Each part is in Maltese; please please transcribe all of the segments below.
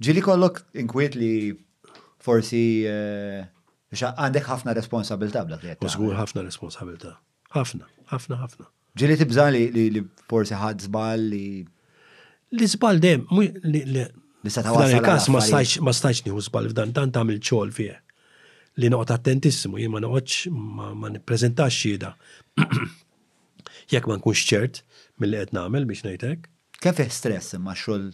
Ġili kollok inkwiet li forsi għandek ħafna responsabilta bla li U zgur ħafna responsabilta. ħafna, ħafna, ħafna. Ġili tibza li forsi ħad zbal li. Li zbal dem, li sa ta' għasal. kas ma stajċ, ma stajċ nieħu zbal f'dan dan tagħmel ċol fih. Li noqgħod attentissimu, jien ma noqgħodx ma nippreżentax xieda. Jekk ma nkunx ċert mill-li qed nagħmel biex ngħidlek. Kif stress imma xogħol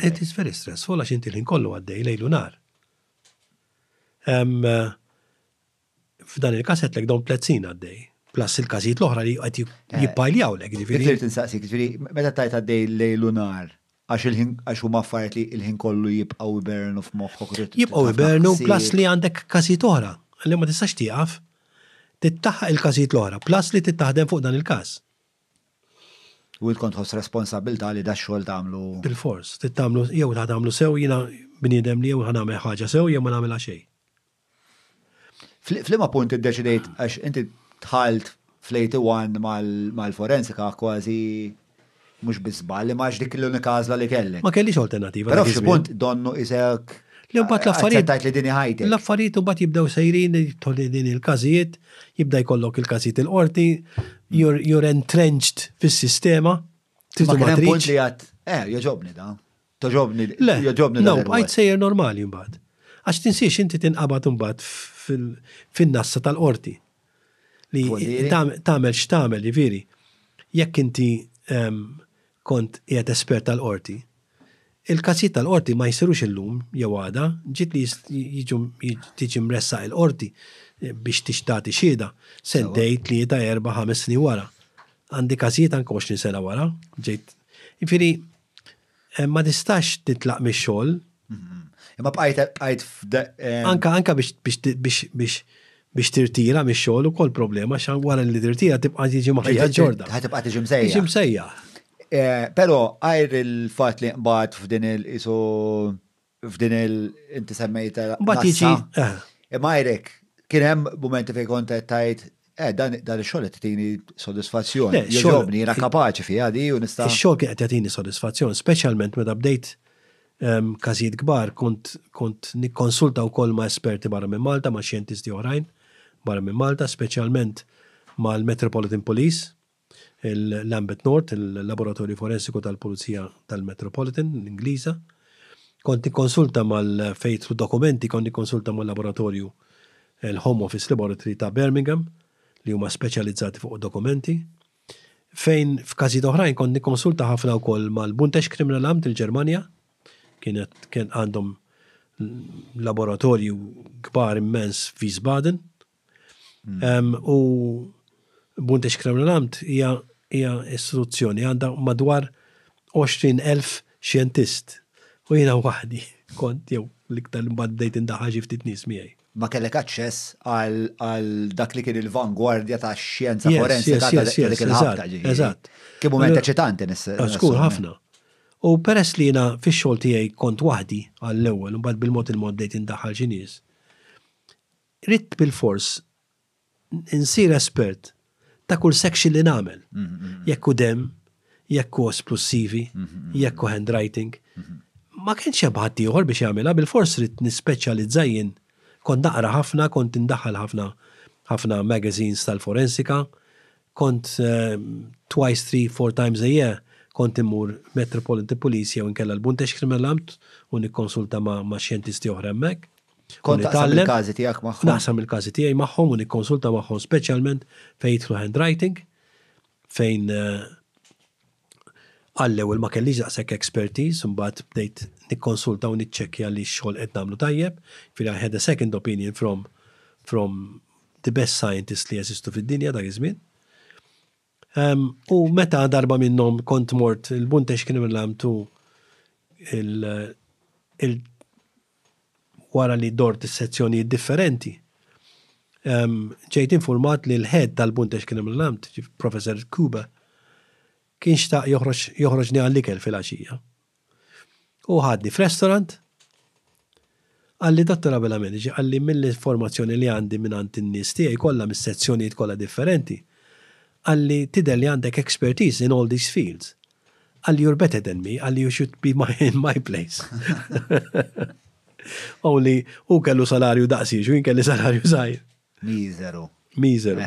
It is very stressful għax inti l-ħin kollu għaddej lejlu nar. Eh, f'dan il-kas għetlek dawn plezzin għaddej. Plus il-każijiet l-oħra li qed eh. jippajljaw lek, ġifieri. Irid insaqsik, ġifieri, meta tajt għaddej lejlu nar, għax il-ħin għax huma affarijiet li l-ħin kollu jibqgħu ibernu f'moħħok. Jibqgħu ibernu plus li għandek każijiet oħra li ma tistax tieqaf tittaħħaq il-każijiet l-oħra, plus li tittaħdem fuq dan il-każ. U int kont tħoss responsabbiltà li dax-xogħol tagħmlu. Bilfors, trid tagħmlu, jew ħa tagħmlu sew, jiena bniedem li jew ħa nagħmel ħaġa sew jew ma nagħmilha xejn. F'liema punt iddeċidejt għax inti dħalt fl-81 mal-forensika kważi mhux bi żball li max dik l-unika għażla li kellek. Ma kellix alternattiva. Però f'xi punt donnu isek L-imbagħad l-affarijiet. Tajt li dini ħajti. L-affarijiet imbagħad jibdew sejrin tolli din il-każijiet jibda jkollok il-każijiet il-qorti, you're, you're entrenched fis-sistema. Ma kien hemm punt li għad, eh, joġobni da. Toġobni, joġobni da. No, għajt sejjer normali mbagħad. Għax tinsiex inti tinqabad mbagħad fin-nassa tal-qorti. Li tagħmel x'tagħmel, jiġifieri. Jekk inti ehm, Kont qiegħed espert tal-Qorti. Il-każijiet tal-Qorti ma jsirux illum jew għada, ġid li jiġu tiġi mressaq il-Qorti biex tagħti xhieda, sentejn, tlieta, erbgħa, ħames snin wara. Għandi każijiet anke għoxrin sena wara, ġejt. Jiġifieri ma tistax titlaq mix-xogħol. Imma bqajt bqajt Anka anka biex biex biex biex tirtira mix xogħol ukoll problema xan wara li tirtira tibqa' tiġi maħajja ġorda. Ħa tibqa' tiġi msejja. Tiġi msejja. Eh, però għajr il-fatt li nqbad f'din il-isu f'din il-inti semmejta. Mbagħad jiġi. Eh. Imma għajrek kien hemm mumenti fejn kont tajt Eh, dan dan ix-xogħol qed tini sodisfazzjon. Le, xogħol- Jogħġobni, jiena kapaċi fiha di u nista'. Ix-xogħol kien qed jagħtini sodisfazzjon, speċjalment meta bdejt em, każijiet kbar kont kont nikkonsulta wkoll ma' esperti barra minn Malta, ma' xjentisti oħrajn barra minn Malta, speċjalment mal-Metropolitan Police, il-Lambeth North, il-Laboratorju Forensiku tal-Pulizija tal-Metropolitan, l-Ingliża. Kont nikkonsulta mal fejtlu dokumenti, kont nikkonsulta mal-laboratorju l-Home Office Laboratory ta' Birmingham li huma speċjalizzati fuq dokumenti. Fejn f'każijiet oħrajn kont nikkonsulta ħafna wkoll mal-Buntex Kriminalamt il-Ġermanja, kienet kien għandhom laboratorju kbar immens f'Wiesbaden. Hmm. U Bundex Kremlinamt hija hija istituzzjoni għandha madwar 20,000 xjentist u jiena waħdi kont jew l-iktar li mbagħad bdejt indaħħal xi ftit nies miegħi. Ma kellek aċċess għal dak li kien il-vangwardja ta' xjenza forensika ta' dik il-ħabta ġifieri. Eżatt. Kien mument eċitanti nis. Ah, Skur ħafna. U peress li jiena fix-xogħol tiegħi kont waħdi għall-ewwel u mbagħad bil-mod il-mod bdejt indaħħal xi nies. Ridt bilfors insir espert ta' kull section li nagħmel. Jekk hu demm, jekk hu osplussivi, jekk hu handwriting. Ma kienx hemm ħaddieħor biex jagħmilha, bilfors ridt nispeċjalizza jien. Kont naqra ħafna, kont indaħħal ħafna ħafna magazines tal-forensika, kont twice, three, four times a year kont immur Metropolitan Police jew inkella l-Bundeschriminalamt u nikkonsulta ma' xjentisti oħra hemmhekk. Kont taqsam il-każi tiegħek magħhom? Naqsam il-każi tiegħi magħhom u nikkonsulta magħhom speċjalment fejn jidħlu handwriting, fejn eh, għallew il ma kellix daqshekk expertise, mbagħad bdejt nikkonsulta u niċċekkja li x-xogħol qed nagħmlu tajjeb, fil I had a second opinion from from the best scientist li jeżistu fid-dinja dak iż-żmien. U meta darba minnhom kont mort il-Buntex kien imlamtu il wara li dort is-sezzjonijiet differenti. Ġejt infurmat li l-head tal-Buntex kien imlamt, Professor Kuba, kien xtaq joħroġni għall-ikel fil-għaxija. Hu ħadni f'restaurant, qalli Dottor Abela Minici, qalli mill-informazzjoni li għandi mingħand in-nies tiegħi kollha mis-sezzjonijiet kollha differenti, qalli tidher li għandek expertise in all these fields. Qalli you're better than me, qalli you should be in my place. Only hu kellu salarju daqsi, x'hu jien kelli salarju żgħir. Miżeru. Miżeru.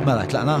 Mela, tlaqna?